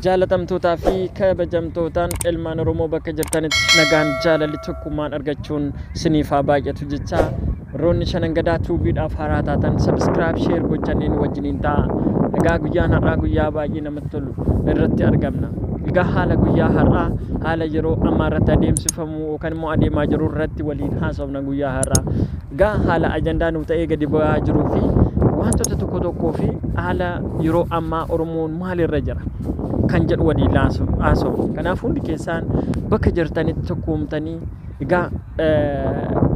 jaalatamtootaa fi kabajamtootaan ilmaan oromoo bakka jirtanitti nagaan jaalalli tokkummaan argachuun siniif haa baay'atu jechaa Warroonni shanan gadaa tuubiidhaaf haaraa taatan sabiskiraayib sheer gochanii nu wajjiniin ta'a. Egaa guyyaan har'aa guyyaa baay'ee namatti tolu irratti argamna. Egaa haala guyyaa har'aa haala yeroo ammaa irratti adeemsifamu yookaan immoo adeemaa jiru irratti waliin haasofna guyyaa har'aa. Egaa haala ajandaa nu ta'ee gadi ba'aa jiruu fi wantoota tokko tokkoo fi haala yeroo ammaa Oromoon maalirra jira kan jedhu waliin haasofna. Kanaaf hundi keessaan bakka jirtanitti tokkoomtanii egaa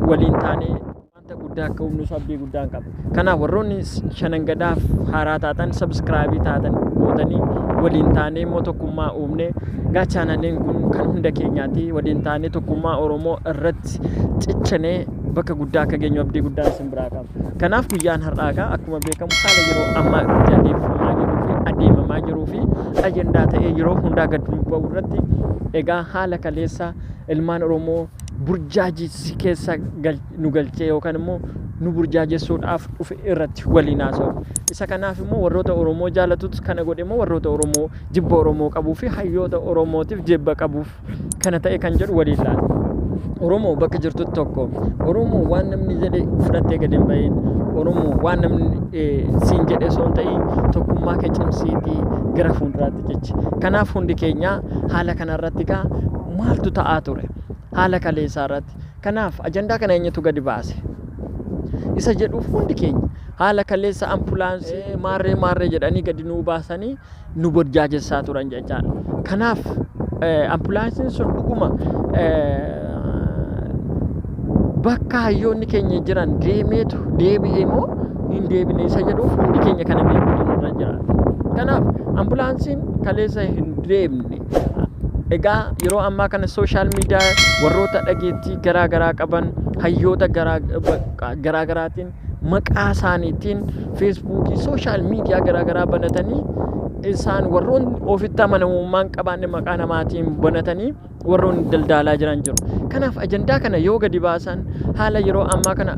waliin taanee wanta guddaa akka uumnus abdii guddaan qaba. Kanaaf warroonni shanan gadaaf haaraa taatan sabskraayibii taatan gootanii waliin taanee immoo tokkummaa uumnee gaa chaanaliin kun kan hunda keenyaati waliin taanee tokkummaa Oromoo irratti cichanee bakka guddaa akka geenyu abdii guddaan isin biraa qaba. Kanaaf guyyaan har'aa gaa akkuma beekamu haala yeroo ammaa irratti adeemsifamaa jiruu fi adeemamaa jiruu fi ajandaa ta'ee yeroo hundaa gad nu ba'u irratti egaa haala kaleessa ilmaan Oromoo burjaajii keessa nu galchee yookaan immoo nu burjaajessuudhaaf dhufe irratti waliin haasa'u. Isa kanaaf immoo warroota Oromoo jaalatutu kana godhe immoo warroota Oromoo jibba Oromoo qabuu fi hayyoota Oromootiif jibba qabuuf kana ta'e kan jedhu waliin laala. Oromoo bakka jirtutti tokko. Oromoo waan namni jedhe fudhattee gadi hin bahin. Oromoo waan namni eh, siin jedhe osoo hin ta'in tokkummaa kee cimsiitii gara fuulduraatti jechi. Kanaaf hundi keenya Haala kana irratti egaa maaltu ta'aa ture? Haala kaleessaa irratti. Kanaaf ajandaa kana eenyutu gadi baase? Isa jedhuuf hundi keenya haala kaleessa ampulaansii maarree maarree jedhanii gadi nuu baasanii nu burjaajessaa turan jechaadha. Kanaaf ampulaansiin sun dhuguma bakka hayyoonni keenya jiran deemeetu deebi'e moo hin deebine isa jedhuuf hundi keenya kana beekuutu nurra jiraata. Kanaaf ambulaansiin kaleessa hin deemne. Egaa yeroo ammaa kana sooshaal miidiyaa warroota dhageettii garaa garaa qaban hayyoota garaa bakka garaa garaatiin maqaa isaaniitiin feesbuukii sooshaal miidiyaa garaa garaa banatanii isaan warroonni ofitti amanamummaa hin qabaanne maqaa namaatiin banatanii warroonni daldaalaa jiran jiru. Kanaaf ajandaa kana yoo gadi baasan haala yeroo ammaa kana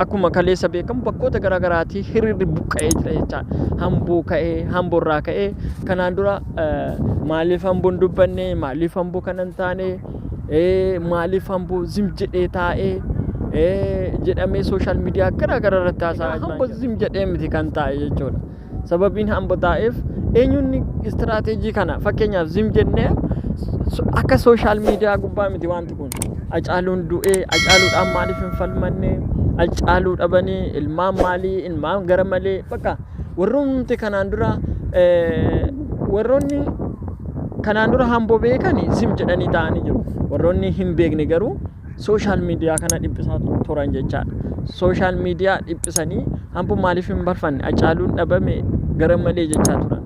akkuma kaleessa beekamu bakkoota gara garaatii hiriirri buqqa'ee jira jechaadha. Hamboo ka'ee, Hamboo irraa ka'ee kanaan dura eh, maaliif Hamboo hin dubbanne, maaliif Hamboo kana hin taane, eh, maaliif Hamboo zim jedhee taa'ee eh, jedhamee sooshaal miidiyaa gara garaa irratti haasa'aa Egaa jiran Hamboo jira. zim jedhee miti kan taa'e jechuudha. Sababiin hambo taa'eef eenyuun istiraateejii kana fakkeenyaaf zim jennee so- akka sooshaal miidiyaa gubbaa miti wanti kun. Acaaluun du'ee, acaaluudhaan maaliif hin falmanne, acaaluu dhabanii, ilmaan maalii, ilmaan gara malee, bakka warroomti kanaan dura eh, warroonni kanaan dura hamboo beekani zim jedhanii taa'anii jiru. Warroonni hin beekne garuu social media kana dhiphisaa turan jechaadha. Social media dhiphisanii hambu maaliif hin barfanne Hacaaluun dhabame gara malee jechaa turan.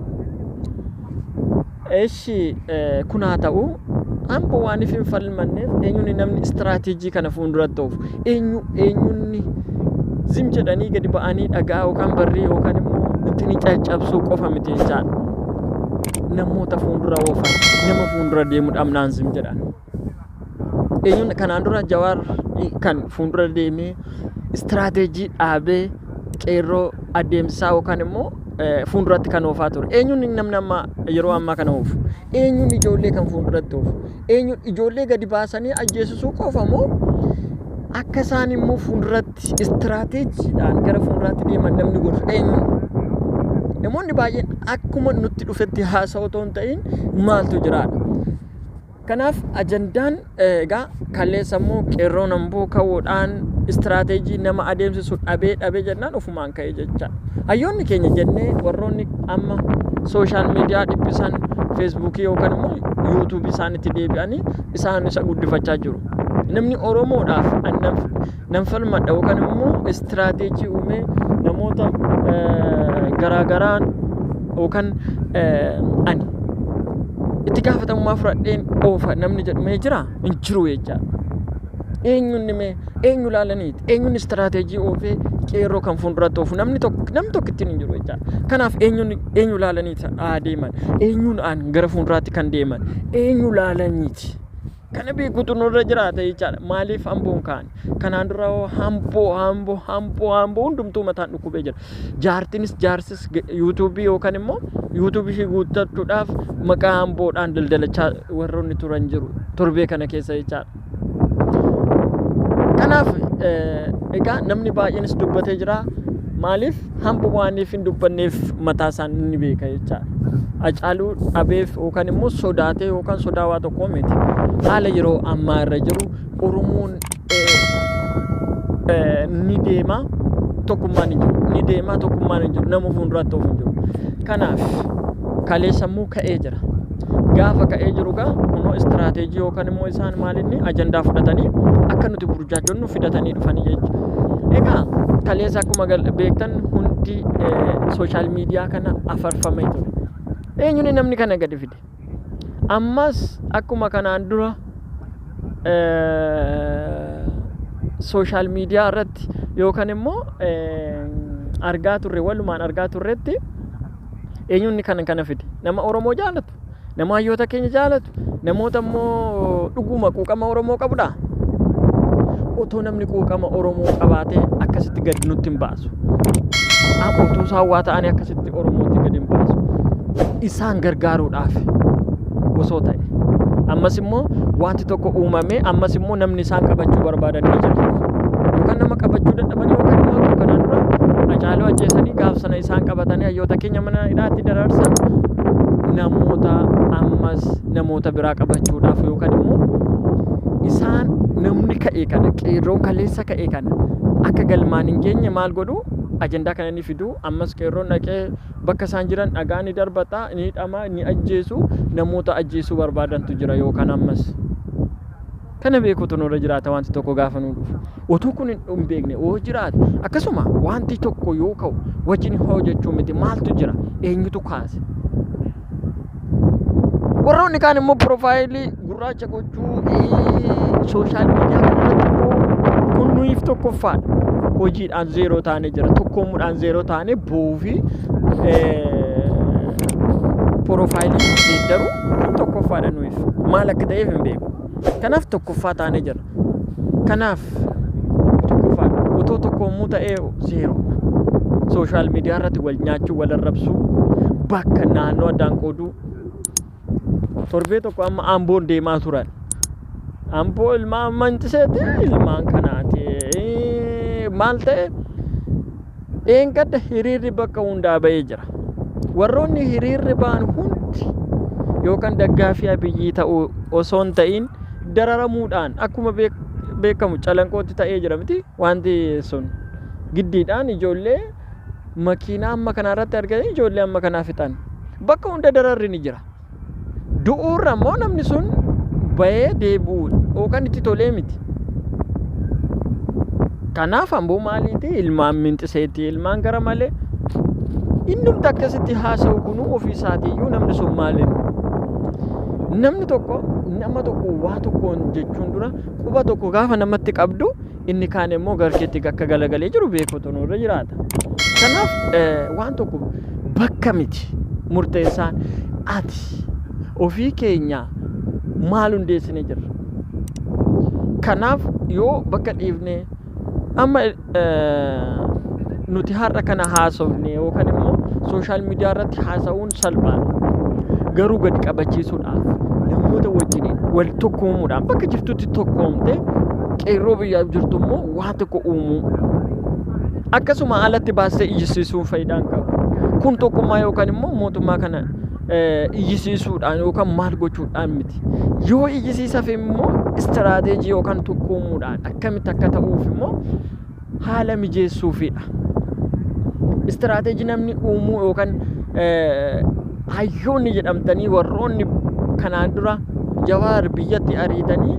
Eshi kun haa ta'u hambu waaniif hin falmanneef eenyuun namni istiraateejii kana fuulduratti oofu eenyu eenyuun zim jedhanii gadi ba'anii dhagaa yookaan barrii yookaan immoo wantini caccabsuu qofa miti jechaadha. Namoota fuuldura oofan nama fuuldura deemu dhabnaan zim jedhan. Eenyuun kanaan dura Jawaar kan fuuldura deemee istiraateejii dhaabee qeerroo adeemsisaa yookaan immoo fuulduratti kan oofaa ture. Eenyuun namni amma yeroo ammaa kana oofu? Eenyuun ijoollee kan fuulduratti oofu? Eenyuun ijoollee gadi baasanii ajjeesisuu qofa moo akka isaan immoo fuulduratti istiraateejiidhaan gara fuulduraatti deeman namni gorsu eenyuun? Namoonni baay'een akkuma nutti dhufetti haasa'u otoo hin ta'in maaltu jiraadha? Kanaaf ajandaan egaa kalleessa immoo qeerroon amboo ka'uudhaan istiraateejii nama adeemsisu dhabee dhabee jennaan ofumaan ka'ee jecha. Hayyoonni keenya jennee warroonni amma sooshaal miidiyaa dhiphisan feesbuukii yookaan immoo yuutuubii isaanitti deebi'anii isaan isa guddifachaa jiru. Namni Oromoodhaaf annan nan falmadha yookaan immoo istiraateejii uumee namoota garaagaraan yookaan ani itti gaafatamummaa fudhadheen oofa namni jedhu mee jira hin jiru jecha. Eenyuun mee eenyu laalaniiti eenyuun istiraateejii oofee qeerroo kan fuulduratti oofu namni tokko namni tokko ittiin hin jiru jecha. Kanaaf eenyuun eenyu laalaniiti haa deeman eenyuun aan gara fuulduraatti kan deeman eenyu laalaniiti. Kana beekuutu nurra jiraata jechaadha. Maaliif hamboon kaane? Kanaan dura hoo hamboo hamboo hamboo hamboo hundumtuu mataan dhukkubee jira. Jaartinis jaarsis ge- yuutuubii yookaan immoo yuutuubii ishee guuttachuudhaaf maqaa hamboodhaan daldalachaa warroonni turan jiru. Torbee kana keessa jechaadha. Kanaaf eh, egaa namni baay'eenis dubbatee jira. Maaliif? hamba waaniif hin dubbanneef mataa isaa ni beeka jechaadha. Hacaaluu dhabeef yookaan immoo sodaatee yookaan sodaa waa tokkoo miti. Haala yeroo ammaa irra jiru Oromoon ni deema tokkummaan hin jiru. Ni deema tokkummaan hin jiru. Nama fuulduraatti of hin jiru. Kanaaf kaleessa immoo ka'ee jira. gaafa ka'ee jiru gaa kunoo istiraateejii yookaan immoo isaan maalinni ajandaa fudhatanii akka nuti burjaajonnu fidatanii dhufanii jechuudha. Egaa kaleessa akkuma gal- beektan hundi sooshaal miidiyaa kana afarfamee ture. Eenyuun namni kana gadi fide? Ammas akkuma kanaan dura sooshaal miidiyaa irratti yookaan immoo eh, argaa turre walumaan argaa turretti Eenyu inni kan kana fide? Nama Oromoo jaalatu, nama hayyoota keenya jaalatu, namoota immoo dhuguma quuqama Oromoo qabudha. Otoo namni quuqama Oromoo qabaatee akkasitti gad nutti hin baasu. Otoo saawwaa ta'anii akkasitti Oromootti gad hin baasu. Isaan gargaaruudhaaf osoo ta'e. Ammas immoo waanti tokko uumamee ammas immoo namni isaan qabachuu barbaadan ni jira. Yookaan nama qabachuu dadhabanii yookaan immoo akkuma kanaan dura Hacaaluu ajjeesanii gaaf sana isaan qabatanii hayyoota keenya mana hidhaatti daraarsan namoota ammas namoota biraa qabachuudhaaf yookaan immoo isaan namni ka'e kana qeerroon kaleessa ka'e kana akka galmaan hin geenye maal godhu ajandaa kana ni fidu ammas qeerroon dhaqee Bakka isaan jiran dhagaa ni darbata, ni hidhama, ni ajjeesu, namoota ajjeesuu barbaadantu jira yookaan ammas. Kana beekuutu nurra jiraata wanti tokko gaafa nuu dhufu. Utuu kun hin hin beekne yoo jiraate akkasuma wanti tokko yoo ka'u wajjin hojechuu miti maaltu jira? Eenyutu kaase? Warroonni kaan immoo piroofaayilii gurraacha gochuu sooshaal miidiyaa kanarratti immoo kun nuyiif tokkoffaadha. Hojiidhaan zeeroo taanee jira. Tokkoomuudhaan zeeroo taanee boo'uu fi piroofaayilii deeggaruu kun tokkoffaadha nuyiif. Maal akka ta'eef hin beeku. Kanaaf tokkoffaa taanee jirra. Kanaaf tokkoffaadha. Otoo tokkoommuu ta'ee zeeroodha. Sooshaal miidiyaa irratti wal nyaachuu, wal arrabsuu, bakka naannoo addaan qooduu. Torbee tokko amma Amboon deemaa turan. Amboo ilmaan mantiseeti ilmaan kanaati. Maal ta'e? Dheengadda hiriirri bakka hundaa ba'ee jira. Warroonni hiriirri ba'an hundi yookaan daggaafii Abiyyii ta'uu osoo hin ta'iin dararamuudhaan akkuma beekamu calanqootti ta'ee jira miti wanti sun giddiidhaan ijoollee makiinaa amma kanaa irratti arganii ijoollee amma kanaa fixan. Bakka hunda dararri ni jira. Du'uu irra immoo namni sun bahee deebi'uu kan itti tolee miti. Kanaaf amboo maaliitii ilmaan minxiseetii ilmaan gara malee innumti akkasitti haasa'u kunuu ofii isaatiiyyuu namni sun maaliin namni tokko nama tokko waa tokkoon jechuun dura quba tokko gaafa namatti qabdu inni kaan immoo garkeetti akka galagalee jiru beekuutu nurra jiraata. Kanaaf waan tokko bakka miti murteessaan ati ofii keenya maal hundeessine jirra. Kanaaf yoo bakka dhiifnee amma nuti har'a kana haasofne yookaan immoo sooshaal miidiyaa irratti haasa'uun salphaadha. Garuu gad qabachiisuudhaaf namoota wajjiniin wal tokkoomuudhaan bakka jirtutti tokkoomtee qeerroo biyyaaf jirtu immoo waan tokko uumuu akkasuma alatti baastee iyyisiisuun faayidaa hin qabu. Kun tokkummaa yookaan immoo mootummaa kana eh, iyyisiisuudhaan yookaan maal gochuudhaan miti. Yoo iyyisiisaaf immoo istiraateejii yookaan tokkoomuudhaan akkamitti akka ta'uuf immoo haala mijeessuufiidha. Istiraateejii namni uumuu yookaan hayyoonni jedhamtanii warroonni kanaan dura jawaar biyyatti ariitanii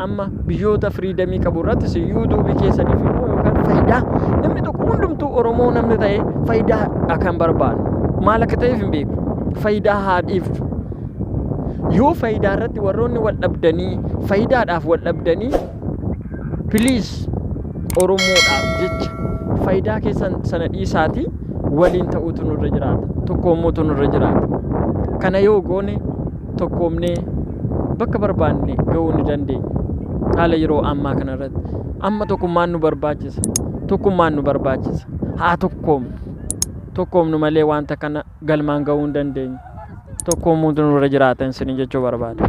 amma biyyoota firiidamii qabu irratti si yuutuubii keessaniif immoo yookaan faayidaa namni tokko hundumtuu Oromoo namni ta'e faayidaa kan barbaadu maal akka ta'eef hin beeku faayidaa haa dhiifnu. Yoo faayidaa irratti warroonni wal dhabdanii faayidaadhaaf wal dhabdanii Please Oromoodhaaf jecha fayidaa keessan sana dhiisaatii waliin ta'uutu nurra jiraata. Tokkoomuutu nurra jiraata. Kana yoo goone tokkoomnee bakka barbaanne ga'uu ni dandeenya. Haala yeroo ammaa kana irratti amma tokkummaan nu barbaachisa. Tokkummaan nu barbaachisa. Haa tokkoomnu. Tokkoomnu malee wanta kana galmaan ga'uu hin dandeenyu. Tokkoomuutu nurra jiraata isiniin jechuu barbaada.